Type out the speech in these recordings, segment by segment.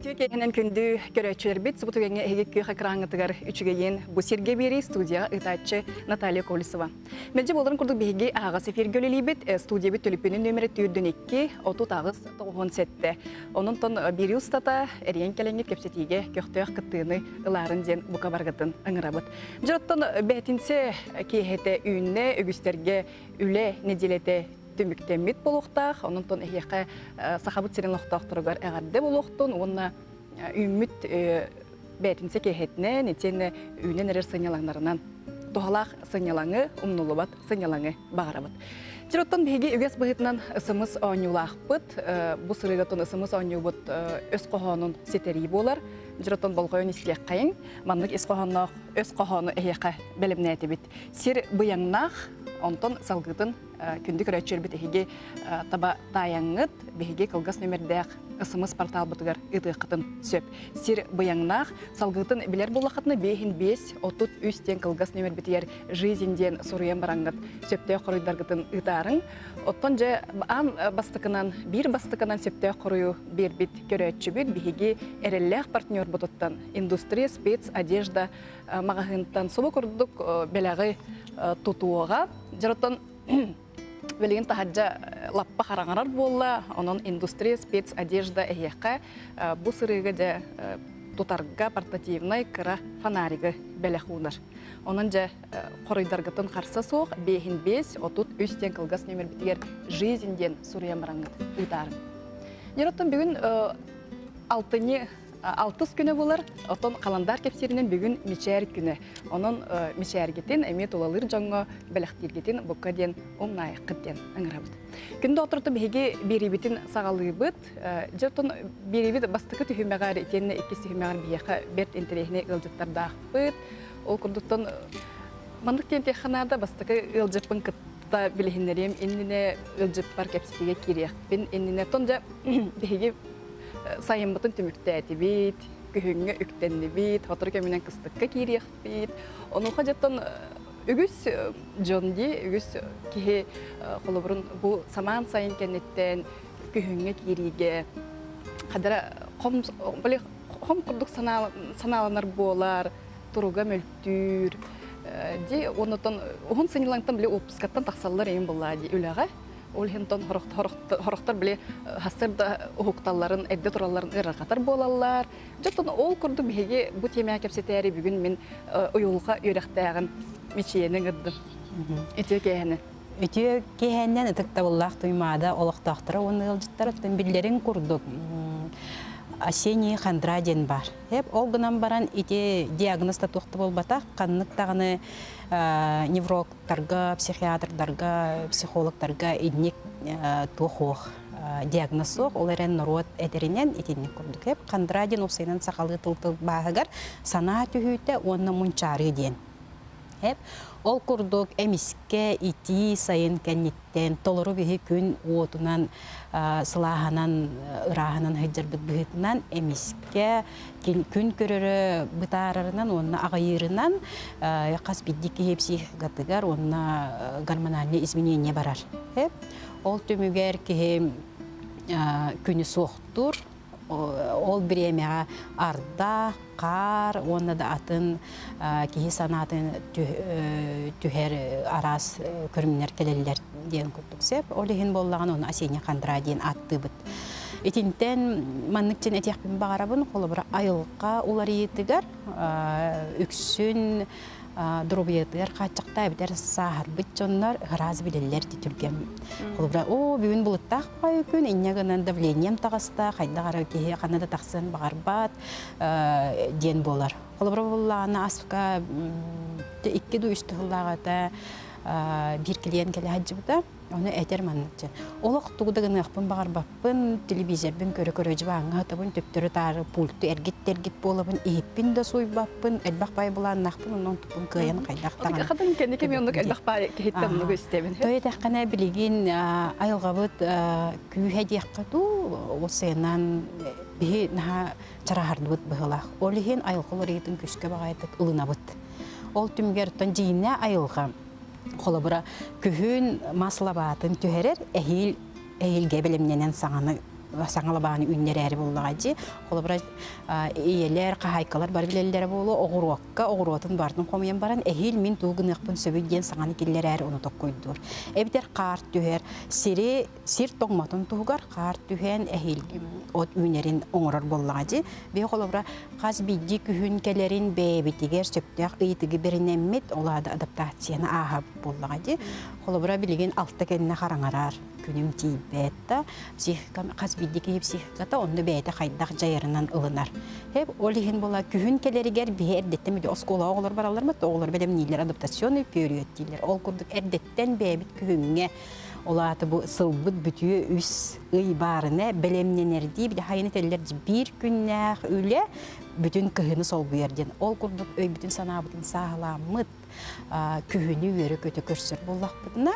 Үтүө киэһэнэн күндү көрөөччүлэрбит субу түгэҥҥэ эһиги күөх экраҥҥытыгар үчүгэйин бу сиргэ биэрии студияҕа ыытааччы Наталья Колесова. Мэлдьи буоларын курдук биһиги аһаҕас эфиргэ үлэлиибит. Студиябыт төлөпүөнүн нөмүрэ төрдүн икки, отут аҕыс тоҕуһун сэттэ. Онон биир устата эрийэн кэлэҥҥит кэпсэтиигэ көхтөөх кыттыыны ылаарын диэн бука баргатын ыҥырабыт. Дьэ оттон бээтинсэ киэһэтэ үүннэ, үгүстэргэ үлэ нэдиэлэтэ түмүктэммит буолуохтаах. Онон эһиэхэ Сахабыт сирин олохтоохторугар эҕэрдэ буолуохтун уонна үүммүт бээтинсэ киэһэтинэн итиэннэ үүнэн эрэр сынньалаҥнарынан туһалаах сынньалаҥы, умнуллубат сынньалаҥы баҕарабыт. Сир оттон биһиги үгэс быһыытынан ысымыс оонньуулаахпыт. Бу сырыыга оттон ысымыс оонньуубут өс хоһоонун ситэрии буолар. Дьир оттон болҕойон истиэххэйиҥ. Маннык ис хоһоонноох өс хоһоону эһиэхэ бэлэмнээтибит. Сир быйаҥнаах, онтон салгытын күндү көрөөччүлэрбит эһиги таба таайаҥҥыт биһиги кылгас нөмердээх СМС порталбытыгар ыытыаххытын сөп сир быйаҥнаах салгыытын билэр буоллаххытына биэһин биэс отут үс диэн кылгас нөмербитигэр жизнь диэн суруйан бараҥҥыт сөптөөх хоруйдаргытын ыытаарыҥ оттон дьэ аан бастакынан биир бастакынан сөптөөх хоруйу биэрбит көрөөччүбүт биһиги эрэллээх партнербутуттан индустрия спец одежда маҕаһыынтан субу курдук бэлэҕи тутуоҕа Дьоттон билигин таһырдьа лаппа хараҥарар буолла, онон индустрия спец одежда эһиэхэ бу сырыыга дьэ тутарга портативнай кыра фонаригы бэлэх уунар. Онон дьэ хоруйдаргытын харса суох 5-5 33 диэн кылгас нөмербитигэр «Жизнь» диэн суруйан бараҥҥыт ыытаарым. Дьон бүгүн алтынньы алтыс күнэ булар, оттон халандаар кэпсииринэн бүгүн мичээр күнэ. Онон мичээргитин эмиэ тулалыыр дьоҥҥо бэлэхтииргитин букка диэн умнаайыккыт диэн ыҥырабыт. Күндү оторто биһиги биэриибитин саҕалыыбыт. Дьэ, оттон биэриибит бастакы түһүмэҕэр итиэннэ иккис түһүмэҕэр биһиэхэ бэрт интэриэһинэй ыалдьыттардаахпыт. Ол курдуктан маннык диэн диэххэ наада, бастакы ыалдьыппын да билиһиннэриэм иннинэ ыалдьыппар кэпсэтиигэ киириэхпин иннинэ тон дьэ биһиги сайыммытын түмүктээтибит күһүҥҥэ үктэннибит сотору кэминэн кыстыкка киириэхпит онуоха дьэттон үгүс дьон дии үгүс киһи холобурун бу самаан сайын кэнниттэн күһүҥҥэ киириигэ хадара хом хом курдук санааланар буолар туруга мөлтөх көстүүр дии онутан уһун сынньылаҥтан били уоппускаттан тахсаллар эйин буллаа дии үлэҕэ ол иһин тон хороқтор били хастар да уһукталларын эрдэ туралларын ырырҕатар буолаллар дьотон ол курдук биһиги бу тиэмэҕэ кэпсэтээри бүгүн мин уйулҕа үөрэхтээҕин мичийэни ыҥырдым итиэ кээһэни үтүө киһэннэн ытыктабыллаах Туймаада олохтоохторо уонна ыалдьыттара биллэрин курдук Осенний хандра диэн баар ХЭП ол гынан баран ити диагноз да туох да буолбатах ханнык даҕаны неврологтарга, психиатрдарга, психологтарга инник туох-уох диагноз суох, ол эрэн норуот этэринэн итинник курдук ХЭП хандра диэн уопсайынан сахалыы тыл тылбааһыгар санаа түһүүтэ уонна мунчаарыы диэн Ол курдук эмискэ итии сайын кэнниттэн толору биһи күн уотунан сылааһанан ырааһынан сылдьарбыт быһыытынан эмискэ күн көрөрө бытаарарынан уонна аҕыйыырынан хас биирдии киһи психикатыгар уонна гормональнай изменения барар. Ол түмүгэр киһи күнү суохтуур Ол бириэмэҕэ арда, хаар уонна да атын киһи санаатын түһэр араас көрүҥнэр кэлэллэр диэн курдук сеп. Ол иһин буоллаҕына оны осенний хандра диэн ааттыыбыт. Итинтэн маннык чин этиэхпин баҕарабын холобура айылҕа уларыйыытыгар үксүн доруобуйатыгар хааччахта эбэтэр сааһырбыт дьоннор ыраас билэллэр ди түргэн холобура оо бүгүн былыттаах баҕайы күн инньэ гынан давлением таҕыста хайдах ары киһи хана да тахсыан баҕарбат диэн буолар холобура буллаана аска икки ду үстэ сыллааҕыта биир килиэн кэлэ сылдьыбыта Ону этэр манначчы. Олох тугу да гыныахпын баҕарбаппын, телевизорбын көрө-көрө дьыбааҥҥа атабын, төптөрү-таары пульты эргит-эргит буолабын, иһиппин да сууйбаппын, элбэх баай былааннаахпын, онно онтуппун кыайан хайдах даҕаны Атыгахатын кэнники мен оннук элбэх баай киһиттэн оннугу истэбин. Той этэххинэ билигин айылҕабыт күүһэ диэххэ дуу, ол сыанан биһи наһаа чараһардыбыт быһыылаах. Ол иһин айылҕа уларыйыытын күүскэ баҕайытык ылынабыт. Ол түмүгэр тон дьиинэ айылҕа холобура күһүн мас лабаатын түһэрэр эһиил эһиилгэ бэлэмнэнэн саҥаны саҥа лабааны үүннэрээри буллаҕа дии холобура ийэлэр хаһаайкалар бары билэллэрэ буолуо оҕуруокка оҕуруотун баартын хомуйан баран эһиил мин тугу гыныахпын сөбүй диэн саҥаны киллэрээри ону токкойдуур эбэтэр хаар түһэр сири сир тоҥмотун туһугар хаар түһээн эһиил от үүнэрин оҥорор буоллаҕа дии. Биһи холобура хас биирдии күһүн кэлэрин бэйэбитигэр сөптөөх ыйытыгы бэринэммит, ол аада адаптацияны ааһа буоллаҕа дии. Холобура билигин алта кэннэ хараҥараар күнүм тиийбэт да психика хас биирдии киһи психиката онно бэйэтэ хайдах дьайарынан ылынар. Хэп ол иһин була күһүн кэлэригэр биһи эрдэттэн биһи оскуолаҕа оҕолор бараллар мат оҕолор бэлэмнииллэр адаптационный период дииллэр. Ол курдук эрдэттэн бэйэбит күһүҥҥэ Ол аата бу сылбыт бүтүө үс ый баарына бэлэмнэнэрдии били хайын этэллэр биир күннээх үлэ бүтүн кыһыны солбуйар диэн. Ол курдук өйбүтүн санаабытын сааһыламмыт, күһүнү үөрө-көтө көрсөр буоллахпытына,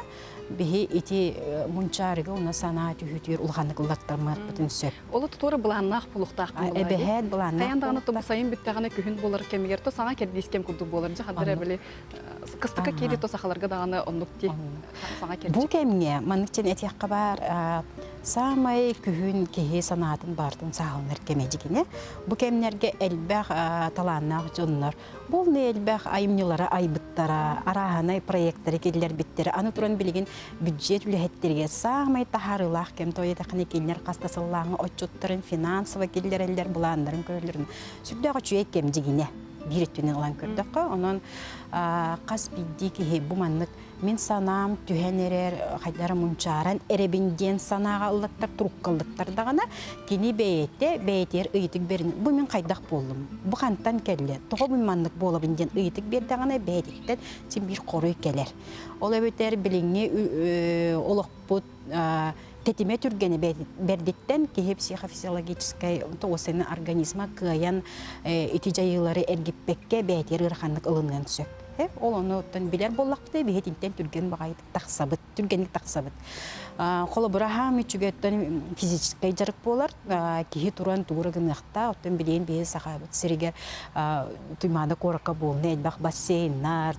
биһи ити мунчаарыга уна санаа түһүтүөр улаханнык ыллаттармарбытын сөп. Ол туора былааннаах булуктаахпын былай. Эбэһээт былааннаах. Хайан даҕаны тубусайын бүттэҕинэ күһүн болар кэмигэр то саҥа кэрдиис кэм курдук буолар. Дьэ хаддара били Кыстыкка киири то сахаларга даҕаны оннук ди саҥа кэрчик. Бу кэмҥэ маныкчын этиэххэ баар саамай күһүн киһи санаатын баартын сааһыланар кэмэ дьигине. Бу кэмнэргэ элбэх талааннаах дьоннор булны элбэх айымньылара айбыттара, арааһанай проекттары киллэрбиттэрэ. Аны туран билигин бюджет үлэһиттериге саамай таһаарыылаах кэм тойотахыны киллер хаста сыллааҥы отчуттарын финансово киллэрэллэр былааннарын көрөллөрүн сүрдээх үчүгэй кэм дьигине. биир өттүнэн ылан көрдөххө онон хас биирдии киһи бу маннык мин санаам түһэн эрэр хайдара мунчааран эрэбин диэн санааҕа ыллаттар туруккаллыттар даҕана кини бэйэтэ бэйэтигэр ыйытык берин бу мин хайдах буоллум бу хантан кэллэ тоҕо мин маннык буолабын диэн ыйытык биэрдэҕинэ бэйэтиттэн син биир хоруй кэлэр ол эбэтэр билиҥҥи олохпут тэтимэ түргэнэ бэрдиттэн киһи психофизиологическай уосаны организма кыайан ити дьайыылары эргиппэккэ бээтиэр ыараханнык ылыныан сөп. Ол онуттан билэр буоллахпытына биһи итинтэн түргэн баҕайы тахсабыт, түргэнник тахсабыт. Холобура аһаам үчүгэттэн физическэй дьарык буолар, киһи туран туура гыныахтаах, оттон билигин биһи Сахабыт сиригэр Туймаада куоракка буолна элбэх бассейннар,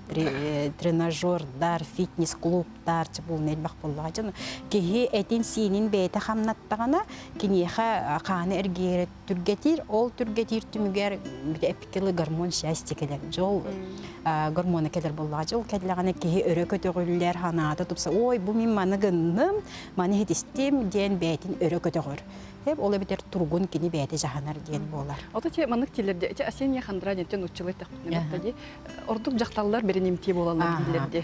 тренажердар, фитнес-клуб таарчы буолна элбэх буоллаҕа дьон киһи этин-сиинин бэйэтэ хамнаттаҕына киниэхэ хааны эргийэрэ түргэтиир ол түргэтиир түмүгэр эпики ылы гормон счастье кэлэр дьол гормона кэлэр буоллаҕа дьол кэллэҕинэ киһи өрө көтөҕүллэр ханаата тупса ой бу мин маны гынным маны иһитистим диэн бэйэтин өрө көтөҕөр ол эбэтэр тургун кини бэйэтэ дьаһанар диэн буолар ото те маннык тилерде эти осенние хандра ден нуччылы тахпытын ордук жақталлар беренимтии болалар дииллерде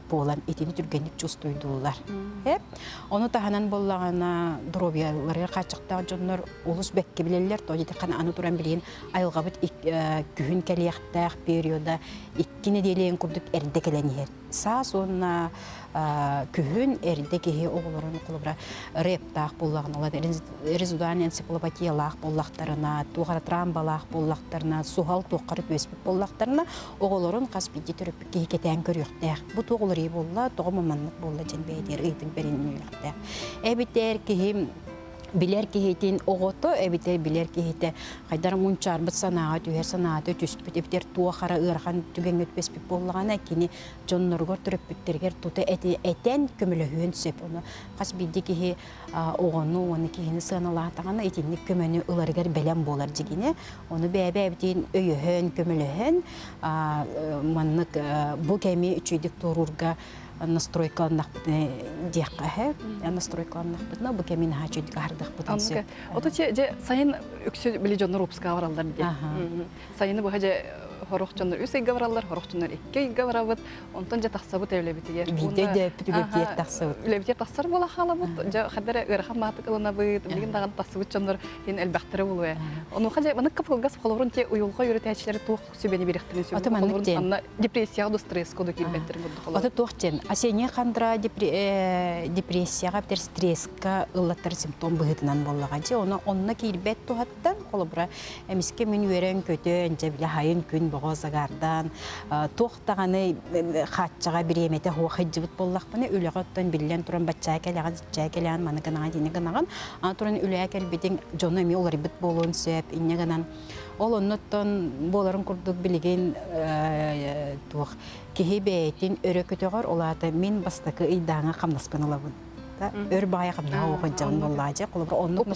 буолан итини түргэнник чувствуйдууллар. Ону таһынан буллаҕына доруобуйаларыгар хааччахтаах дьоннор олус бэккэ билэллэр, то итиэхэ аны туран билигин айылҕабыт күһүн кэлиэхтээх периода икки нэдиэлээн курдук эрдэ кэлэн иһэр. Саас уонна күһүн эрдэ киһи оҕолорун холобура рэптаах буллаҕына, резудальная энциклопедиялаах буллахтарына, туох трамбалаах буллахтарына, суһал туоххара түөспүт буллахтарына, оҕолорун хас биирдии киһи кэтээн көрүөхтээх. Бу туох уларыйыы буолла, тоҕо маманнык буолла дьэн бэйэтигэр ыйытын бэриннилэхтээх. Эбитэр киһи билэр киһитин оҕото эбитэр билэр киһитэ хайдара мунчаарбыт санааҕа түһэр санаата түспүт эбитэр туохара ыарахан түгэҥҥэ түбэспит буоллаҕына кини дьонноругар төрөппүттэригэр тута этэн көмөлөһүөн сөп ону хас биирдии киһи оҕону уонна киһини сыаналаатаҕына итинник көмөнү ыларыгар бэлэм буолар дьигини ону бэйэ-бэйэбитин өйөһөн көмөлөһөн маннык бу кэми үчүйдүк туоруурга настройкаланнахпытына диэххэ эһэ настройкаланнахпытына бу кэми наһаа үчүйдүк аһардахпытын сөп ото че же сайын үксү били дьоннор выпускаҕа бараллар дии сайыны быһа же хорох дьоннор үс ыйга бараллар хорох дьоннор икки ыйга барабыт Онтон дьэ тахсабыт үлэбитигэр. Биирдэ дөөппүтүгэр тиэр тахсабыт. Үлэбитигэр тахсар буола хаалабыт. Дьэ хадара ыарахан маатык ылынабыт. Билигин даҕаны тахсыбыт дьоннор иһин элбэхтэрэ буолуо. Онуоха дьэ маннык кыпылгас холобурун те уйулҕа үөрэтээччилэрэ туох сүбэни биэриэхтэрин сөбүлүүр анна депрессияҕа да стресска да киирбэттэр бурдук олор. Аты туох диэн осенняя хандра депрессияҕа битэр стресска ыллаттар симптом быһыытынан буоллаҕа дьэ оны онно киирбэт туһаттан холобура эмискэ мин үөрэн көтөн дьэ биле хайын күн боҕо загардан туох даҕаны хааччаҕа бириэмэтэ хуохайдьыбыт буоллахпына үлэҕэ оттон биллэн туран баччаа кэлэҕин сиччээ кэлэҕин маны гынаҕын ини гынаҕын аны туран үлэҕэ кэлбитиҥ дьону эмиэ уларыйбыт буолуон сөп инньэ гынан ол оннуттан буоларын курдук билигин туох киһи бэйэтин өрө көтөҕөр ол аата мин бастакы ыйдааҥы хамнаспын ылабын өр баҕайы хамнаҕа уоханчаҕын буоллаачы холобур оннук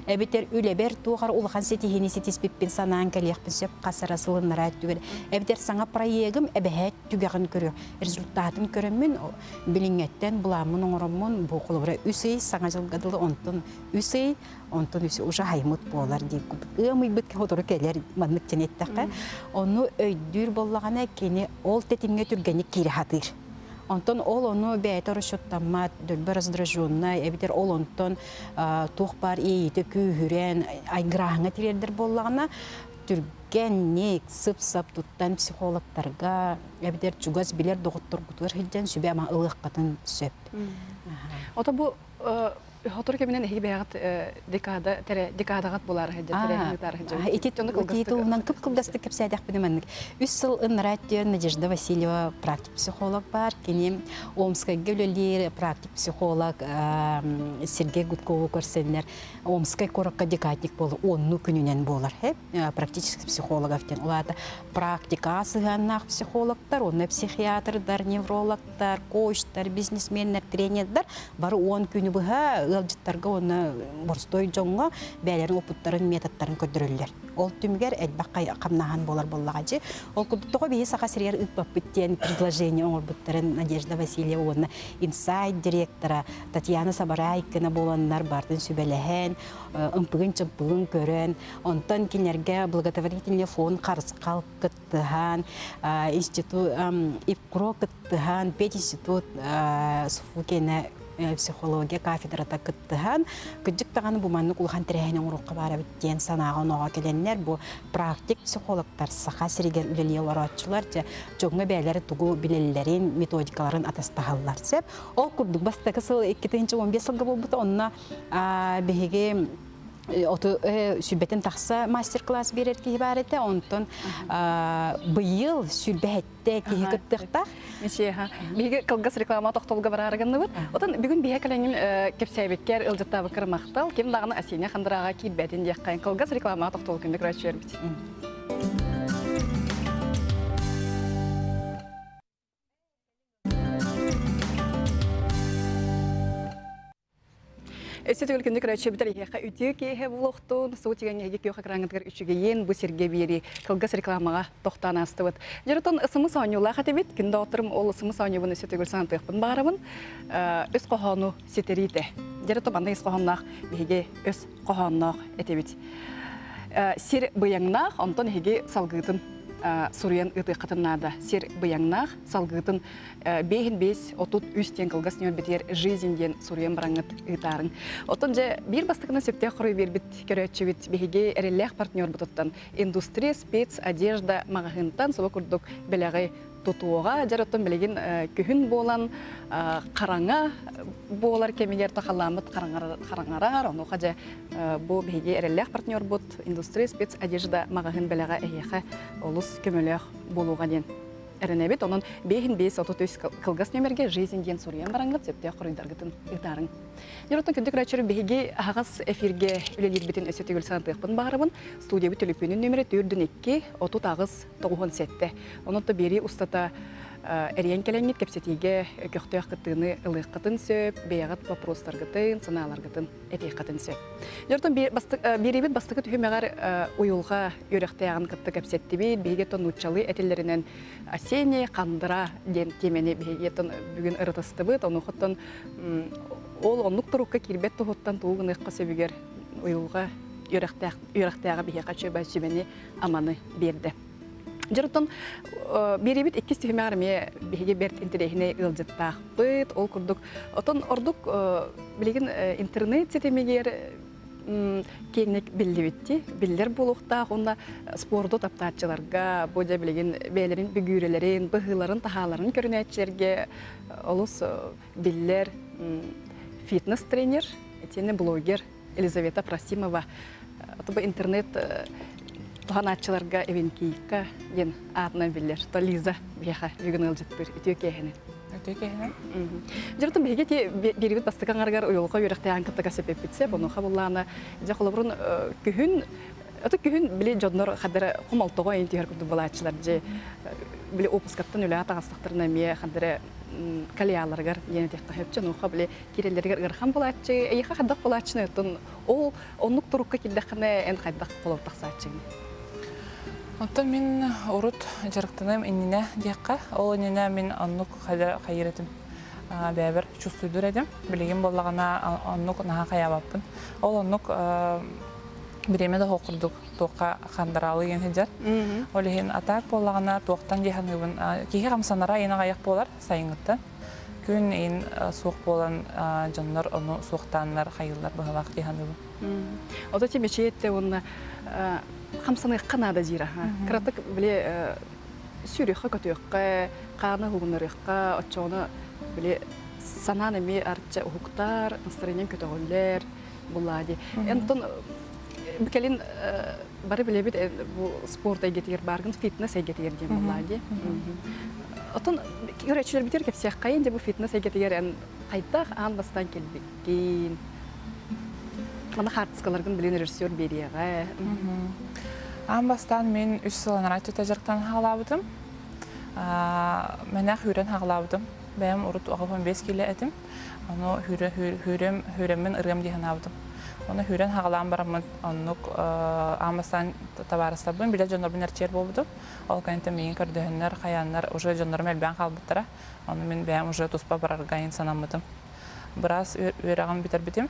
эбитэр үлэбэр туохар улахан ситиһини ситиспиппин санаан кэлиэхпин сөп хасара сылыннара түгел эбитэр саҥа проегым эбэһээт түгэҕин көрү результатын көрөммүн билиҥҥэттэн буламмын оҥороммун бу холобура үс ый саҥа дьылга дылы онтун үс ый онтун үс уже аймыт буолар дии ыамыйбыт сотору кэлэр маннык тэн эттэххэ онну өйдүүр боллаҕына кини ол тэтимҥэ түргэнник киирэ сатыыр Онтон ол ону бэйэтэ расчеттаммат, дөлбө раздраженнай, эбэтэр ол онтон туох баар иэйиитэ күүһүрэн, айгырааһыҥҥа тириэрдэр буоллаҕына, түргэнник, сып-сап туттан психологтарга, эбэтэр чугас билэр доҕотторгутугар сылдьан сүбэ-ама ылыаххытын сөп. Ото бу Хотор кэминэн эһиги бэйэҕит декада, тэрэ, декадаҕыт булаары сылдьар тэрээһиннитаар сылдьар. Ити тулуурунан кып-кылгастык кэпсээдэхпинэ маннык. Үс сыл ыннараа өттүн Надежда Васильева практик-психолог баар. Кини Омскайга үлэлиир практик-психолог Сергей Гудкову көрсөннөр Омскай куоракка декадник буолар онну күнүнэн буолар. Практический психологов диэн. Улаата практика сыһыаннаах психологтар, онно психиатрдар, невролог директордар, коучтар, бизнесменнэр, тренердэр бары уон күнү быһа ыалдьыттарга уонна боростуой дьоҥҥо бэйэлэрин опыттарын, методтарын көрдөрөллөр. Ол түмүгэр элбэх хамнаһан буолар буоллаҕа дьи. Ол курдук тоҕо биһи Саха сиригэр ыыппаппыт диэн предложение оҥорбуттарын Надежда Васильева уонна инсайт директора Татьяна Сабараайкина буоланнар бартын сүбэлэһэн, ымпыгын-чымпыгын көрөн, онтон кинилэргэ благотворительный фонд харысхал кыт кыттыһан, институт ИПКРО кыттыһан, пединститут Суфукина психология кафедрата кыттыһан, кыддык даҕаны бу маннык улахан тэрээһини оҥоруохха баара эбит диэн санааҕа онооҕо кэлэннэр, бу практик психологтар Саха сиригэр үлэлии олорооччулар дьэ дьоҥҥо бэйэлэрэ тугу билэллэрин, методикаларын атастаһаллар сөп. Ол курдук бастакы сыл 2 15 сылга буолбута онно биһиги оту сүбэтин тахса мастер-класс биэрэр киһи баар этэ онтон быйыл сүлбэһэттэ киһи кыттыахтаах мичиэха биһиги кылгас реклама тохтолуга бараары гынныбыт отон бүгүн биһэ кэлэҥин кэпсээбиккэр ыалдьыттаабыккар махтал ким даҕаны асиня хандырааҕа киирбэтин диэххэйин кылгас реклама тохтолу күндүк рачуербит Эссе төгүл күндү көрөөччү бүтэр эһиэхэ үтүө киэһэ булохтун суу тигэн эһиги күөх экраҥҥытыгар үчүгэйин бу сиргэ биэри кылгас рекламаҕа тохтоон аастыбыт. Дьоруттан ысымыс оонньуулаах этибит. Күн доҕотторум ол ысымыс оонньуубун өссө төгүл санатыахпын баарабын. Э, үс хоһоону ситэриитэ. Дьэрэ тобанна ис хоһоонноох биһиги өс хоһоонноох этибит. Сир быйаҥнаах, онтон эһиги салгыытын суруйан ыытыаххытын наада. Сир быйаҥнаах, салгыытын биэһин биэс отут үс диэн кылгас ньүөлбэтигэр «Жизнь» диэн суруйан бараҥҥыт ыытаарыҥ. Оттон дьэ биир бастакынан сөптөөх хоруй биэрбит көрөөччүбүт биһиги эрэллээх партнербутуттан Индустрия спец одежда маҕаһыынтан субу курдук бэлэҕи тутуоҕа дьэр оттон билигин күһүн буолан хараҥа буолар кэмигэр то халааммыт хараҥарар онуоха дьэ бу биһиги эрэллээх партнербут индустрия спец одежда маҕаһын бэлэҕэ эһиэхэ олус көмөлөөх буолуоҕа диэн эрэнэбит онон бэйин бэйс отут үс кылгас нүөмэргэ жизнь диэн суруйан бараҥҥыт сөптөөх хоруйдаргытын ыытаарыҥ дьоруттан күндү күрөөччүр биһиги аһаҕас эфиргэ үлэлиирбитин өссө төгүл санатыахпын баарыбын студиябыт төлөпүөнүн нүмерэ төрдүн икки отут аҕыс тоҕуһун сэттэ. Онон то биэрии устата эрийэн кэлэҥҥит кэпсэтиигэ көхтөөх кыттыыны ылыаххытын сөп, бэйэҕит вопростаргытын, санааларгытын этиэххитин сөп. Дьортон биэриибит бастакы түһүмэҕэр уйулҕа үөрэхтээҕин кытта кэпсэттибит, биһиги то нууччалыы этиллэринэн осенний хандра диэн тиэмэни биһиги бүгүн ырытыстыбыт, ону хоттон ол оннук турукка киирбэт туһуттан тугу гыныахха сөбүгэр уйулҕа үөрэхтээҕэ биһиэхэ чөбө сүбэни аманы биэрдэ. Дьонтон биэриибит иккис түһүмэҕэр эмиэ биһиги бэрт интэриэһинэй ыалдьыттаахпыт. Ол курдук отон ордук билигин интернет ситимигэр киэҥник биллибитти биллэр буолуохтаах уонна спорду таптааччыларга бу дьэ билигин бэйэлэрин бүгүүрэлэрин быһыыларын таһааларын көрүнээччилэргэ олус биллэр фитнес тренер итиэннэ блогер Елизавета Просимова Тобу интернет туһанааччыларга Эвенкийка диэн аатынан биллэр то Лиза биһиэхэ бүгүн ыалдьыттыр үтүө киэһэнин үтүө киэһэнин дьоруттан биһиги ти биирибит бастакы аңаргар уйулҕа үөрэхтэйээн кыттыга сепеппитсе бонуха буллаана дьэ холобурун күһүн Аты күһүн били дьоннор хаддара хомолтоҕо интиһэр курдук балааччылар дьэ били опускаттан үлэҕэ таҕыстахтарына эмиэ хаддара калиаларыгар диэн этиэххэ сөп онуоха били кирэлэригэр ыарахан булааччы эйиэхэ хайдах булааччыны оттон ол оннук турукка келдэххинэ эн хайдах холоп тахсааччыгын Оттон мин урут дьарыктаным иннинэ диэххэ. Ол иннинэ мин оннук хайыр этим бэбэр чувствуйдур этим. Билигин боллагана оннук наха хаябаппын. Ол оннук бириэмэ да хокурдук туохха хандыраалыйан сыдьар. Ол иһин атаак буоллаҕына туохтан дьаһаныыбын киһи хамсанара айан аҕайах буолар сайыҥҥыттан. Күн иин суох буолан дьоннор ону суохтааннар хайыыллар быһалаах дьаһаныыбын. Ото ти мечеть уонна хамсаныахха наада диира. Кыратык били сүрүххэ көтүөххэ, хаана угуннарыахха, оччоҕуна били санаан эмиэ арча уһуктар, настроениең көтөҕүллэр, буллади ентон кэлин бары билэбит бу спорт эйгэтигэр бааргын фитнес эйгэтигэр диэн буллади отон үрэччилэрбитигэр кэпсиэххайын дьэ бу фитнес эйгэтигэр эн хайдах аан бастан келбиккин аны хаартыскаларгын билин режиссер бериэҕэ аан бастаан мин үс сылланара түтэ дьарыктан хаалаабытым мэнэх үүрэн хаалаабытым бэйэм урут оҕопон бес киле этим Ону хүрэ, хүрүм, хүрэммин ырыам дии санаабытым. Ону хүрэн хаҕалаан бараммын оннук аамасаан табаарыстарбын билэ дьоннорбун эрчийэр буолбутум. Ол кэнниттэн миигин көрдөһөннөр, хайааннар уже дьоннорум элбээн хаалбыттара. Ону мин бэйэм уже туспа барарга санаммытым. Быраас үөрэҕин бүтэрбитим.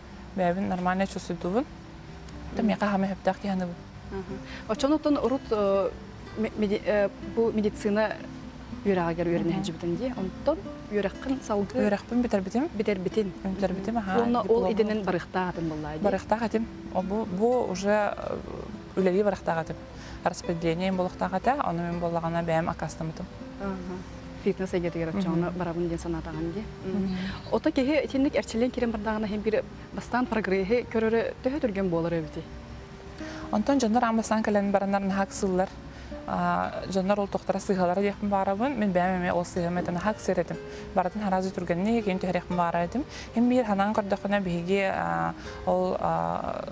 бэйэбин нормально чувствуйдубун да миэхэ хаама сөптөөх киһи аныбын оччонуттан урут бу медицина үөрэҕигэр үөрэнэ сылдьыбытын дии онтон үөрэххин салгыы үөрэхпин бүтэрбитим бүтэрбитин бүтэрбитим аhaa уонна ол идэнэн барыахтаах этим баллаа дии барыахтаах этим бу бу уже үлэлии барыахтаах этим распределение булуктаах этэ, ону мин буоллаҕына бэйэм аккаастаммытым. фитнес эйгэтигэр отчаҕына барабын диэн санаатаҕын дии. Ото киһи итинник эрчиллэн киирэн бардаҕына иһин бир бастаан прогрессы көрөрө төһө түргэн буолар эбити? Онтон дьоннор аан бастаан кэлэн баранар наһак сыллар дьоннор ол тохтора сыһалара диэхпин баарабын мин бэйэм эмиэ ол сыһыам этэ наһак сыр этим барытын арази түргэнник ин түһэриэхпин баара этим ин биир ханан көрдөххүнэ биһиги ол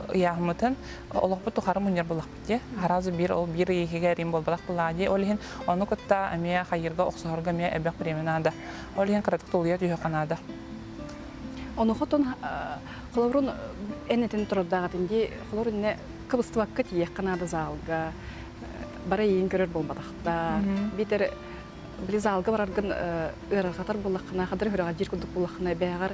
ыйааммытын олохпут тухары мунньар булахпыт дьэ аразы биир ол биир иһигэр им буолбатах былаа дии ол иһин ону кытта эмиэ хайыырга охсуһарга эмиэ элбэх бириэмэ наада ол иһин кыратык тулуйа түһүөххэ наада ону хотон холорун энэтин турардаағатын дии холор инне кыбыстыбакка тииэххэ наада заалга бара иин көрөр болбатахта битер били заалга бараргын ыарахатар буллаххына хадыр хүрэҕэ жир курдук буллаххына бэҕэр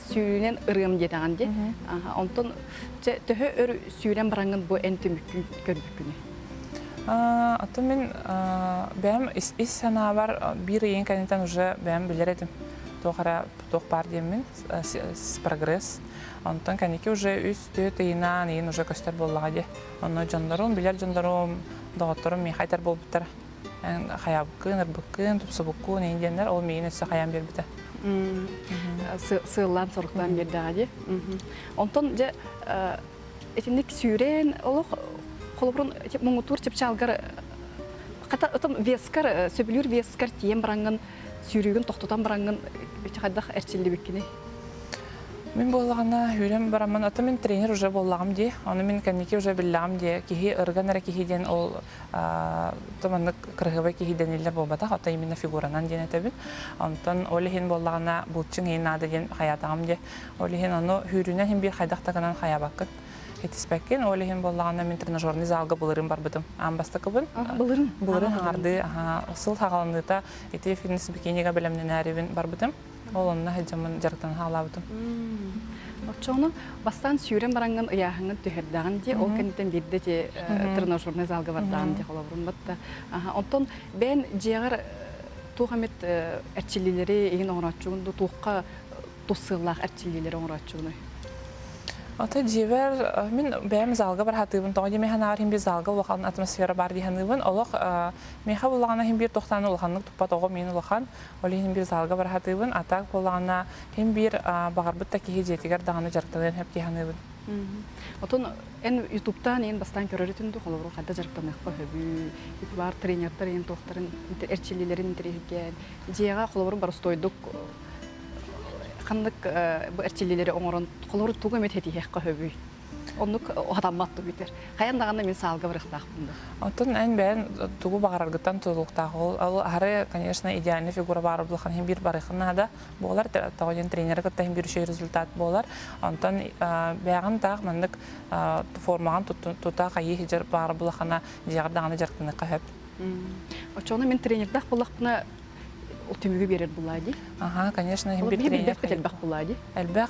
сүүрүүнэн ырыам диэтэҕин дии. Онтон чэ төһө өр сүүрэн бараҥҥын бу эн түмүккүн көрбүккүнүй? Атын мин бэйэм ис санаабар биир ыйын кэнниттэн уже бэйэм билэр этим туох эрэ туох баар диэммин прогресс онтон кэнники уже үс-түөрт ыйынаан ыйын уже көстөр буоллаҕа дии онно дьоннорум билэр дьоннорум доҕотторум миэхэ айтар буолбуттара хайаабыккын, ырбыккын, тупсубуккун, ини диэннэр ол миигин өссө хайаан биэрбитэ. Сыыллаан-соруктаан биэрдэҕэ дии. Онтон дьэ итинник сүүрэн олох холобурун муҥутуур чыпчаалгар хата отом вескар э, сөбүлүүр вескар тиийэн бараҥҥын сүүрүүгүн тохтотон бараҥҥын хайдах эрчиллибиккиний? Мин буоллаҕына үүрэн бараммын, ото мин тренер уже буоллаҕым дии. Ону мин кэнники уже биллэҕим дии. Киһи ырган эрэ киһи диэн ол маннык кыраһыабай киһи дэниллэр буолбатах, оттон именно фигуранан диэн этэбин. Онтон ол иһин буоллаҕына булчуҥ иһин наада диэн хайаатаҕым диэ. Ол иһин ону хүүрүүнэн иһин биир хайдах да гынан хайаабаккыт кэтиспэккин. Ол иһин буоллаҕына мин тренажерный залга былырын барбытым. Аан бастакыбын. Былырын. Былырын хаҥардыы сыл хаҕаланыыта ити фитнес-бикинига бэлэмнэнээрибин барбытым. Ол онно сылдьаммын дьарыктан хаалаабытым. Оччоҕуна бастаан сүүрэн бараҥҥын ыйааһыҥҥын түһэрдэҕин дии, ол кэнниттэн биирдэ ити тренажернай залга бардаҕым дии холобурум батта. Оттон бэйэн дьиэҕэр туох эмит эрчиллиилэри иһин оҥорооччугун дуу, туохха тус сыаллаах эрчиллиилэри оҥорооччугунуй? Ата дьиэбэр мин бэйэм залга бар сатыыбын тоҕо диэн мин санаабар иһин биир залга улахан атмосфера баар дии саныыбын олох миэхэ улахан иһин биир тохтаан улаханнык туппат оҕом иһин улахан Ол иһин биир залга бара сатыыбын, а так буоллаҕына, ким биир баҕарбыт да киһи дьиэтигэр даҕаны дьарыктаныан сөп дии саныыбын. Отон эн Ютубтаан иһин бастаан көрөрүтүн дуу, холобур, ханта дьарыктаныахха сөбүй? Ютубар тренердэр иһин туохтарын эрчиллиилэрин интэриэһиргээн, дьиэҕэ, холобур, боростуойдук ханнык бу эрчиллиилэри оҥорон, холобур, тугу эмит ситиһиэххэ сөбүй? Оннук атаммат да бүтэр. Хайан даҕаны мин саалга барыахтаах буолла. Оттон эн бэйэн тугу баҕараргыттан тутулуктаах. Ол аһары, конечно, идеальная фигура баар буллаххына иһин биир барыахха наада. Буолар тоҕо диэн тренеры кытта иһин бүрүчү результат буолар. Онтон бэйэҕин таах маннык формаҕын тута хайыы иһдьэр баара буллаххына дьиэҕэр даҕаны дьарыктаныахха сөп. Оччоҕуна мин тренердаах буоллахпына ол түмүгү биэрэр булаа дии. Аха, конечно, иһин биир тренер. Элбэх булаа дии. Элбэх.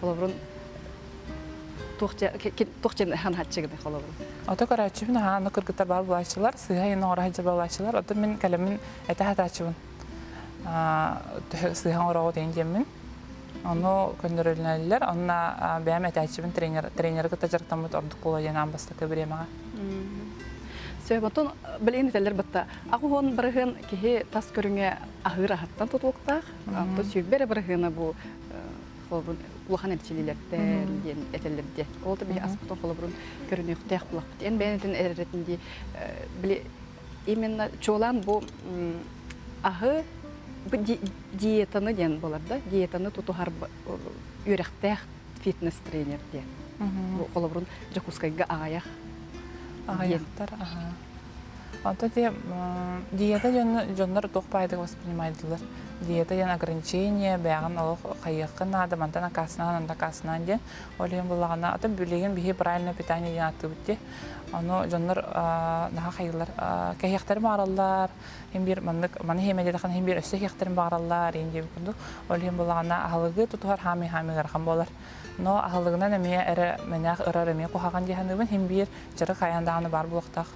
холобурун туох дьэн ханааччы гыны холобурун ото көрөөччүбүн аһааны кыргыта баа булааччылар сыыһа йын оҕораһа дьа булааччылар ото мин кэлэмин этэ хатааччыбын сыыһа оҥороҕу тейин диэммин ону көннөрөллөр онна бэйэм этээччибин тренер тренеры кытта жарыктаммыт ордук буола диэн аан бастакы бириэмэҕэ Сөбөтун білин этелер бытта ақуһон барыһын киһи тас көрүҥэ аһыр аһаттан тутулуктаах. Анту сүйбер барыһына бу холобурун улахан эрчиллиилэртэн диэн этэллэр дии ол да биһи аспытын холобурун көрүнүөхтээх буолахпыт эн бэйэнэтин эрэрэтин дии били именно чуолаан бу аһы диетаны диэн болар да диетаны тутуһар үөрэхтээх фитнес тренер диэн холобурун дьокуускайга аҕайах диэн Онто те диета дьонно дьоннор туох баайдык воспринимаетылар. Диета диэн ограничение, бэйэҕин олох хайыаххын наада, мантан аккаастанаан, анда аккаастанаан диэн. Ол иһин буллаҕына, атын билигин биһи правильное питание диэн ааттыыбыт дии. Ону дьоннор наһаа хайыылар кэһиэхтэрин баараллар, ин биир маннык маны иһиэмэ диэтэххинэ ин биир өссө иһиэхтэрин баараллар, ин диэбит курдук. Ол иһин буллаҕына аһылыгы тутуһар хаамыы-хаамыы ыарахан буолар. Но аһылыгынан эмиэ эрэ мэнээх ырар эмиэ куһаҕан диханыыбын хин биир чыры хайан дааны бар буолуохтах.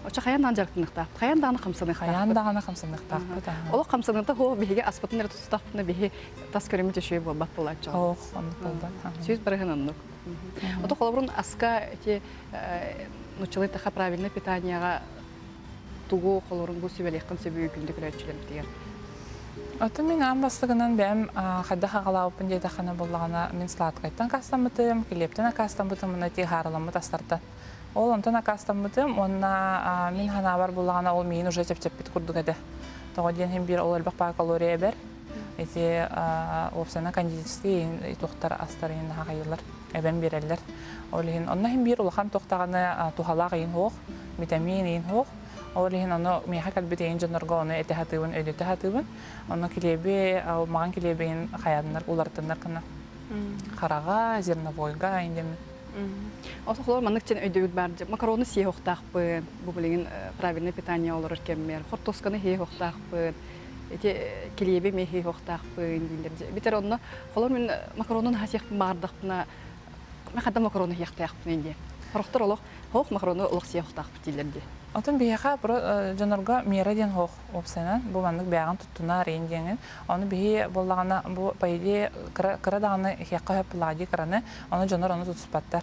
Оча хайан дааны жарктыныхтаах. Хайан дааны хамсаныхтаах. Хайан дааны хамсаныхтаахпыт. Олох хамсаныхта хо биһиги аспытын эрэ тустахпына биһи тас көрүмүт өшөй буолбат болааччы. Ох, оннук болбат. Сөз барыһын оннук. Ото холобурун аска эти нучылый таха правильный питанияга тугу холорун бу сүбэлиэххин сөбү күндү көрөөччүлэрбитигэр Атын мин аан бастыгынан бэм хайдах аҕалаабыппын диэтэххинэ буллаҕына мин сладкайтан акаастаммытым, килиэптэн акаастаммытым уонна тиэ хаараламмыт астартан. Ол онтон акаастаммытым уонна мин санаабар буллаҕына ол миин уже чэпчэппит курдук этэ. Тоҕо диэн иһин биир ол элбэх пара калория эбэр Ити уопсана кондитерскай тухтар астарын наһаҕайылар эбэн биэрэллэр. Ол иһин онно иһин биир улахан тохтаҕына туһалаах иһин суох, витамин иһин суох. Ол иһин ону миэхэ кэлбит иһин дьоннорго ону этэ сатыыбын, өйдөтө сатыыбын. Ону килиэби маған килиэбин хайааннар уларытыннар гына хараҕа, зерновойга индемин. Олохлор маннык чен өйдөбүл бар макароны сие хохтаахпын, бу билигин правильное питание олорор кэммер, хортосканы хие хохтаахпын, ити килиэбим иһиһуохтаахпын дииллэр бүтэр онно холо мин макаронун аһасыахпын баҕардахпына хата макарону иһиэхтээхпин дии хорохтор олох хоох макарону олох сиэхтаахпыт дииллэр дии Отун биһиэхэ дьонорго мера диэн хоох уопсанан бу маннык бэҕэн туттуна арыйын диэҥин ону биһи буоллаҕына бу по идее кыра даҕаны хиэххэ хөп булаадыы кыраны ону дьонор ону тутуспаттар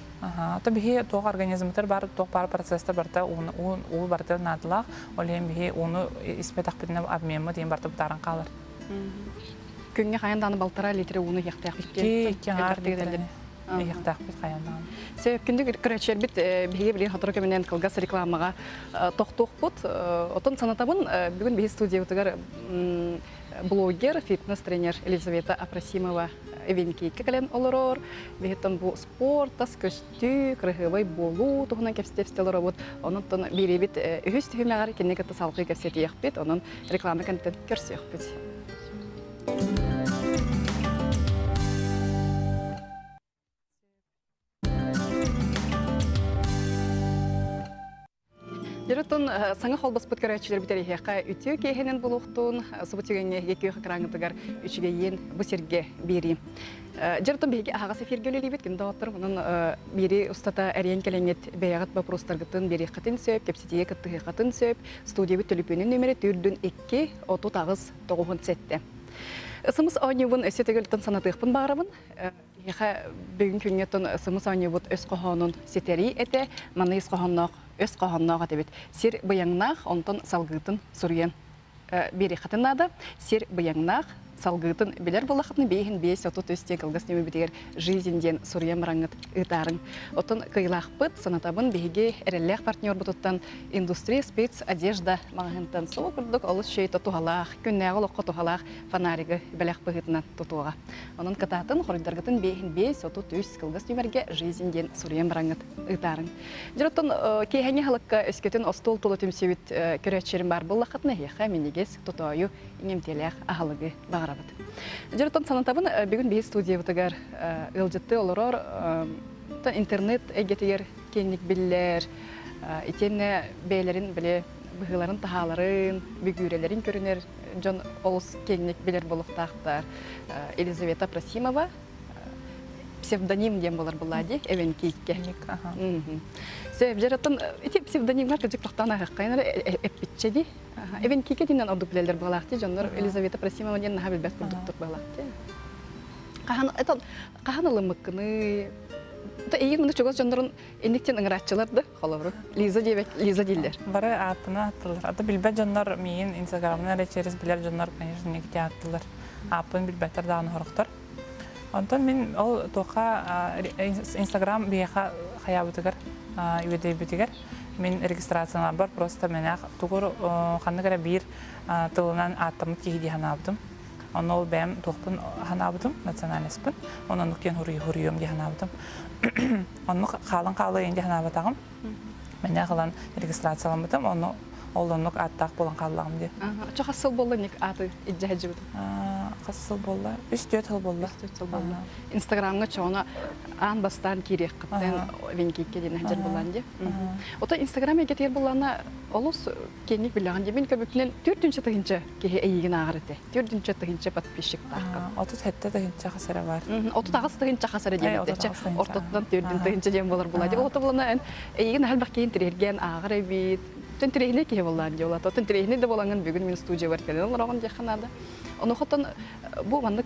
то биһи туох организмытар бар туох баар процесстар барыта уу барыта наадалаах ол иһин биһи ууну испэтэхпитинэ обмеммыт диэн барыта бытааран хаалар күҥҥэ хайан дааны балтара литр ууну иһиэхтээх икки икки иһиэхтээхпит хайан дааны сеөккүндүк көрөчербит биһиги билин хотору көмүнэн кылгас рекламаҕа тохтуохпут отон санатабын бүгүн биһи студиябытыгар блогер фитнес тренер Елизавета Апросимова эвенкейке кэлэн олорор биһиттан бу Уор, тас көстүү, кыраһыабай буолуу туһунан кэпсэтии олоробут. Онон биэриэбит үһүс түһүмэҕэр кинини кытта салҕыы кэпсэтиэхпит, онон реклама кэнниттэн көрсүөхпүт. Дьоруттан саҥа холбоспут көрөөччүлэр бүтэриһиэхэ үтүө киэһэнин булуохтуун субу түгэҥҥэ екех экраҥытыгар үчүгэйиин бу сиргэ биэриим. Дьоруттан биһиги аһаҕас эфиргэ үлэлиибит күн доҕотторум онон биири устата эриэн кэлэҥҥит бэйэҕит боппуруостаргытын биэриэххитин сөп кэпсэтиигэ кыттыһыаххытын сөп студиябыт төлөпүөнүн нөмөрө төрдүн икки отут аҕыс тоҕуһун сэттэ Ысымыс оонньуубун өссө төгүлтэн санатыахпын баарабын Киһиэхэ бүгүн күҥҥэ сымыс оонньуубут өс хоһоонун ситэрии этэ, манна ис хоһоонноох, өс хоһоонноох этибит. Сир быйаҥнаах, онтон салгыытын суруйан биэриэххитин наада. Сир быйаҥнаах, салгыытын билэр буоллаххытына, биэһин биэс, отут үс диэн кылгас ньүөмэбитигэр «Жизнь» диэн суруйан бараҥҥыт ыытаарыҥ. Оттон кыайыылаахпыт, санатабын, биһиги эрэллээх партнербутуттан «Индустрия спец одежда» маҕаһыынтан сол курдук олус чэй-то туһалаах, күннээҕи олоххо туһалаах фонаригы бэлэх быһыытынан тутуоҕа. Онон кытаатын, хоруйдаргытын биэс отут үс кылгас түмэргэ «Жизнь» диэн суруйан бараҥҥыт ыытаарыҥ. Дьоттон киэһэҥи халыкка өскөтүн остуол тула түмсүбүт көрөөччүлэрим баар буллаххытына эһиэхэ минигис, тутоойу, иҥэмтиэлээх аһылыгы баҕарабыт. Дьоттон санатабын бүгүн биһи студиябытыгар ыалдьыттыы олорор интернет эйгэтигэр киэҥник биллэр итиэннэ бэйэлэрин быһыыларын таһааларын, бүгүөрэлэрин көрүнэр дьон олус киэҥник билэр буолуохтаахтар. Елизавета Просимова псевдоним диэн буолар буллади эвенкийке севжераттан ити псевдонимҥа кырдьык тохтоон аһыаххайын эппитчэ ди эвенкийке диинен ордук билэллэр буолаахти дьоннор Елизавета Просимова диэн наһаа билбэт курдуктук буолаахти хаһан хаһан ылыммыккыный эйиин муну чугас дьоннорун инниктин ыңырааччылар да Холобур, Лиза диэбэт, Лиза дииллэр. Бары ааттаны ааттылар. Ата билбэт дьоннор миин Инстаграмынан эрэ через билэр дьоннор, конечно, никити ааттылар. Ааппын билбэттэр даҕаны сорохтор. Онтон мин ол туохха Инстаграм биһиэхэ хайаабытыгар үөдэйбитигэр мин регистрацияланарбар просто мэнээх тугу ханнык эрэ биир тылынан ааттаммыт киһи дии санаабытым. Онно ол бэйэм туохпун ханаабытым, национальнайспын. Оннук диэн хоруйуом дии ханаабытым. Онно хаалан хаалайын дии ханаабатаҕым. Мэнэ халан регистрацияламмытым, онно ол оннук ааттаах болан хааллаҕым дии. Чахас сыл болла ник ааты иждэ хаджыбытым? Хас сыл болла? Үс-түөрт сыл болла. Үс-түөрт сыл болла. Инстаграмга чоҕуна аан бастаан киириэххиттэн венкикке диэн хаджар буллаан дии. Ото Инстаграм эйгэтигэр буллаана олус Кэнник биллэҕин дии, мин көмөтүнэн төрдүнчэ тыһыынча киһи эйиигин ааҕар этэ. Төрдүнчэ тыһыынча подписчиктааххын. Отут сэттэ тыһыынча хас эрэ бар. Отут аҕыс тыһыынча хас эрэ диэн этээччи. Ортотунан төрдүн тыһыынча диэн буолар буолаа. Дьэ, ол буолана эн эйигин элбэх киһин тириэргээн ааҕар эбит. Оттон тириэһинэй киһи буоллаан дии болаата. Оттон тириэһинэй да буолаҥын бүгүн мин студиябар кэлэн олороҕун диэххэ наада. Онуохаттан бу маннык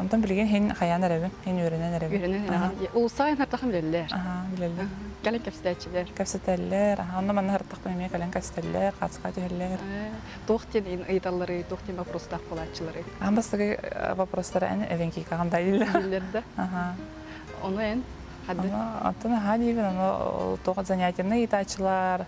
Онтон билигин һин хайаан эрэбин, һин үөрэнэн эрэбин. Үөрэнэн эрэҕин. Улуустаҕын һардаххын билэллэр. Аһаа, билэллэр. Кэлэн кэпсэтээччилэр. Кэпсэтэллэр. Аһа онно-манна һардахпын эмиэ кэлэн кэстэллэр, хаачыска түһэллэр. Туох диэн ыйыталлары, туох диэн боппуруостаах буолааччылары? Аан бастакы боппуруостара эн эвенкийкаҕын да иллэр. Иллэр да? Аһаа. Ону эн? Ону оттон аһаа диибин, ону туох занятиеннай ыйытааччылар,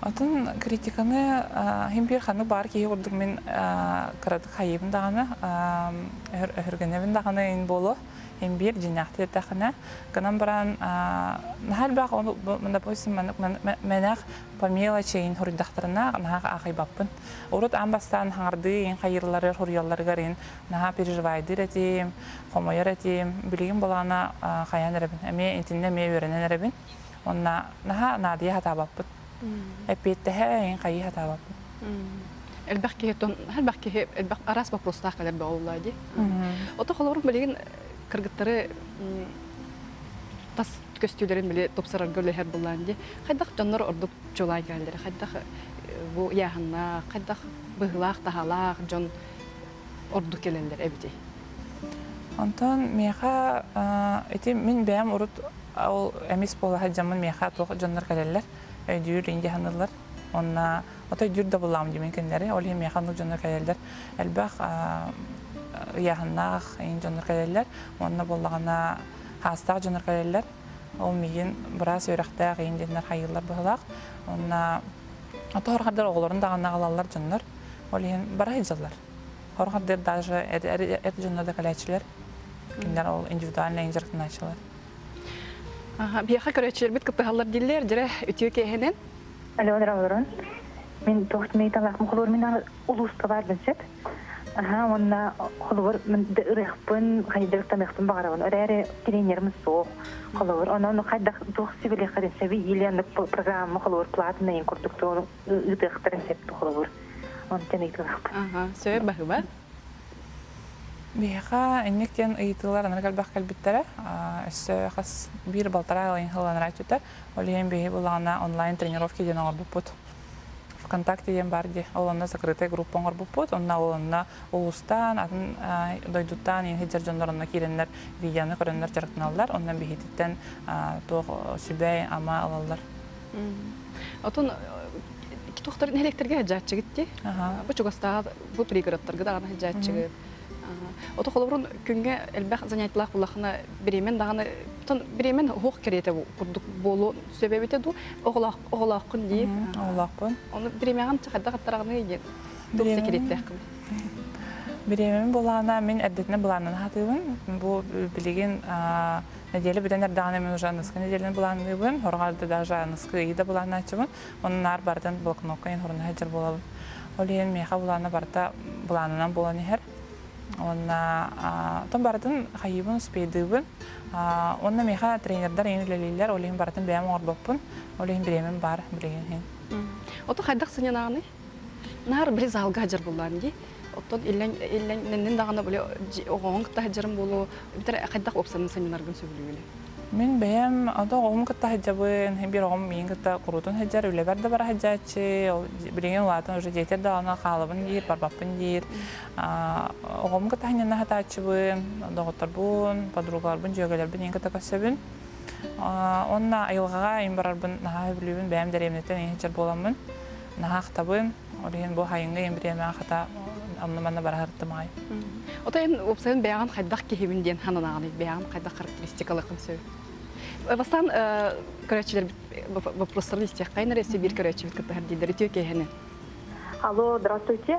Атын критиканы иһин биир ханнык баар киһи курдук мин кыратык хайыыбын даҕаны өһүргэнэбин даҕаны ин буолуо ин биир дьиняахтыы эттэххинэ гынан баран наһаа элбэх ону допустим мэнэх по мелочи иһин хоруйдахтарына наһаа аахыйбаппын урут аан бастаан хаҥардыы иһин хайыыларыгар хоруйалларыгар иһин наһаа переживайдыыр этим хомойор этим билигин балаҕана хайан эрэбин эмиэ итиннэ эмиэ үөрэнэн эрэбин Онно наһаа наадыйа сатаабаппыт. Эппиэттэһэ эйин хайыы сатаабаппыт. Элбэх киһи элбэх киһи элбэх араас боппуруостаах кэлэр бөҕө дии. Ото холобурум билигин кыргыттары тас көстүүлэрин били тупсарарга үлэһэр буллаан дии. Хайдах дьоннор ордук чуолаан кэлэллэрэ, хайдах бу ыйааһыннаах, хайдах быһыылаах-таһаалаах дьон ордук кэлэллэр эбитий Онтон миэхэ ити мин бэйэм урут ол эмис буола сылдьаммын миэхэ туох дьоннор кэлэллэр өйдүүр инди саныыллар онно ото өйдүүр да булаам димин кинилэри ол иһин миэхэ оннук дьоннор кэлэллэр элбэх ыйааһыннаах ин дьоннор кэлэллэр онно буоллаҕына хаастаах дьоннор кэлэллэр ол миигин быраас үөрэхтээх иин диэннэр хайыыллар быһылаах онно Оҕолорун даҕаны аҕалаллар дьоннор. Ол иһин бара сылдьаллар. Хорҕардыр даже эти дьонно да кэлээччилэр. Кинилэр ол индивидуальнай инжектаначчылар. Биһиэхэ көрөөччүлэрбит кыттыһаллар дииллэр, дьирэ үтүө киэһэнэн. Алена Олорон, мин туох мииталаах мухулуурминан улууска баарбын сөп. Аха уонна холобур ырыахпын хайдыртаныахпын баҕарабын өрөөрү тренерим суох холобур онон хайдах туох сибилиэхтэрин сөбүй или программа холобур платанайын курдук ыытыахтарын сөптүү холобур онтон ыйытылахпын сөп баһыба Биһиэхэ инник диэн ыйытыылар анарга элбэх кэлбиттэрэ. Өссө хас биир балтараа ыйын хыланара өттүтэ. Ол иһин биһи булаҕана онлайн тренировки диэн оҥорбуппут. ВКонтакте диэн баар дии. Ол онно закрытая группа оҥорбуппут. Онно ол онно улуустаан, атын дойдуттаан иһи сылдьар дьоннор онно киирэннэр видеоны көрөннөр дьарыктаналлар. Онно биһититтэн туох сүбэй, ама ылаллар. Отон туохтарын электриге хажаатчыгыт ти? Бу чугастаа бу пригородтарга даҕаны хажаатчыгыт. Ото холобурун күнге элбэх занятиялах булахына беремен даҕаны тон беремен уһуох керете курдук болу Сөбөбүтэ дуу оҕолоох оҕолооххун дии. Оҕолоохпун. Ону бириэмэҕин хайдах аттараҕыный диэн туох сэкириэттэххин? Бириэмэм былаана мин эрдэтинэ былааннана сатыыбын. Бу билигин нэдиэлэ бүтэн эрдэҕинэ мин уже аныска нэдиэлэни былаанныыбын. Хорҕар да даже аныскы ыйы да былааннааччыбын. Онон наар барытын блокнокка информация сылдьар буолабын. Ол иһин миэхэ былаана барыта былаанынан буолан иһэр. Уонна тон барытын хайыыбын, успейдыыбын. Уонна миэхэ тренердэр эйин үлэлииллэр, ол иһин барытын бэйэм оҥорбоппун, ол иһин бириэмэм баар билигин иһин. Оту хайдах сыньанаҕыный? Наар били залга сылдьар буоллаҕым дии. Оттон иллэҥ иллэҥ нэннин даҕаны били оҕоҕун кытта сылдьарым буолуо, эбэтэр хайдах уопсанныы сынньанаргын сөбүлүүгүнүй? Мин бэйэм ону оҕоҕун кытта сылдьабын, биир оҕом миигин кытта куруутун сылдьар, үлэбэр да бара сылдьааччы, ол билигин улаатан уже детям даҕаны хаалабын диир, барбаппын диир. Оҕомго таһынан наһатааччыбын, доҕотторбун, подругаларбын, дьүөгэлэрбин ийин кыта көрсөбүн. Онна айылҕаҕа ийин барарбын наһаа сөбүлүүбүн, бэйэм дэриэбинэттэн ийин сэр буоламмын наһаа ахтабын. Ол иһин бу хайыҥҥа ийин бириэмэҕэ хата онно-манна барарыттымаҕай. Отой эн уопсайын бэйэҕин хайдах киһибин диэн сананаҕыный? Бэйэҕин хайдах характеристикаларгын сөбүн? Бастаан көрөөччүлэрбит вопростарын истиэххэ, нареси биир көрөөччүбүт кыттыһар дииллэр үтүө киэһэни. Алло, здравствуйте.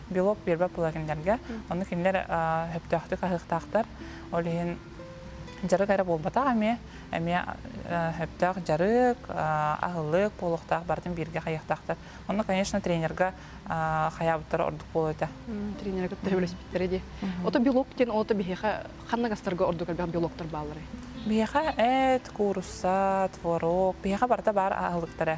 белок биэрбэ плагиннэргэ. Ону кинилэр сөптөөхтүк аһыахтаахтар. Ол иһин дьарык эрэ буолбатах эмиэ эмиэ сөптөөх дьарык, аһылык буолуохтаах барытын бииргэ хайыахтаахтар. Онно, конечно, тренерга хайаабыттара ордук буолуо этэ. Тренерга кытта үлэспиттэрэ дии. Ото белок диэн ото биһиэхэ ханна гастарга ордук элбэх белоктар баалларай? Биһиэхэ эт, куурусса, творог, биһиэхэ барыта баар аһылыктара.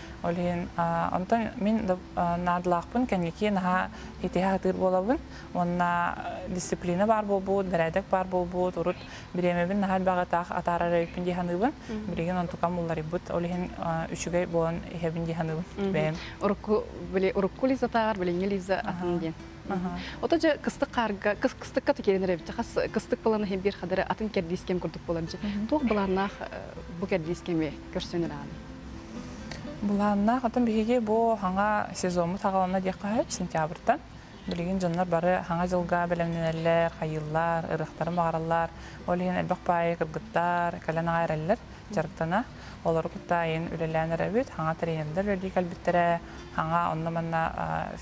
Ол иһин онтон мин наадалаахпын кэнники наһаа итиһэ сатыыр буолабын уонна дисциплина баар буолбут, бэрээдэк баар буолбут, урут бириэмэбин наһаа элбэҕи таах атаарар эбиппин дии саныыбын. Билигин онтукам уларыйбыт, ол иһин үчүгэй буолан иһэбин дии саныыбын бэйэм. Урукку били урукку Лизатааҕар билиҥҥи Лиза атын диэн. Ото дьэ кыстык хаарга кыстыкка тикирэнэр эбит. Хас кыстык балан иһин биир хадары атын кэрдиис кэм курдук буолар дьэ. Туох былааннаах бу кэрдиис кэми көрсөҥөр ааны Былааннаах отон биһиги бу хаҥа сезоммут аҕалана диэххэ сентябрьтан билигин дьоннор бары хаҥа дьылга бэлэмнэнэллэр, хайыыллар, ырыахтарын баҕараллар. Ол иһин элбэх паайы кыргыттар кэлэн аҕа эрэллэр дьарыктана. Олору кытта айын үлэлээн эрэбит. Хаҥа тренердэр үлэлии кэлбиттэрэ. Хаҥа онно-манна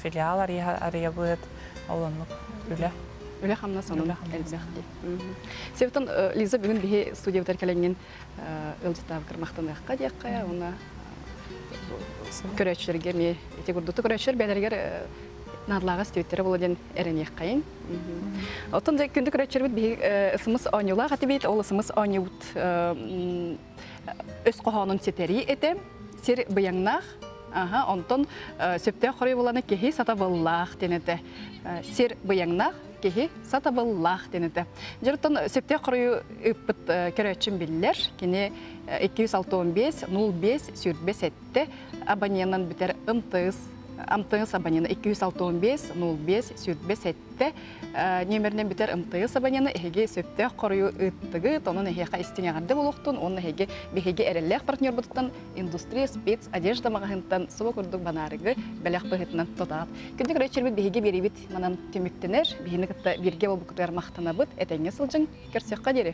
филиал арыйабыт. Ол оннук үлэ. Үлэ-хамнас онон элбэх дии. Себетон Лиза бүгүн биһи студиябытыгар кэлэҥҥин ыалдьытаабыккар махтаныахха диэххэ уонна көрөөччүлэргэ эмиэ ити курдук көрөөччүлэр бэйэлэригэр наадалааҕы истибиттэрэ буолла диэн эрэниэххэйин оттон күндү көрөөччүлэрбит биһиги ысымыс оонньуулаах этибит ол ысымыс оонньуубут өс хоһоонун ситэрии этэ сир быйаҥнаах аха онтон сөптөөх хоруй буоланы киһи сатабыллаах диэн этэ сир быйаҥнаах Киһи сатабыллаах диэн этэ. Дьоруттан сөптөөх хоруйу ыппыт көрөөччүм биллэр. Кини 265 05 сүүрбэ сэттэ абоненынан бүтэр МТС МТС абонена 265 05 сүүрбэ сэттэ нөмеринэн бүтэр МТС абонена эһиги сөптөөх хоруйу ыыттыгыт, онон эһиэхэ истиҥэҕэрдэ буолуохтун уонна эһиги биһиги эрэллээх партнербутуттан Индустрия спец одежда маҕаһыынтан субу курдук банаарыгы бэлэх быһыытынан тутаат. Күндү көрөөччүлэрбит биһиги биэрэбит манан түмүктэнэр биһини кытта бирге болбукутугар махтанабыт этэҥҥэ сылдьыҥ көрсүөххэ диэри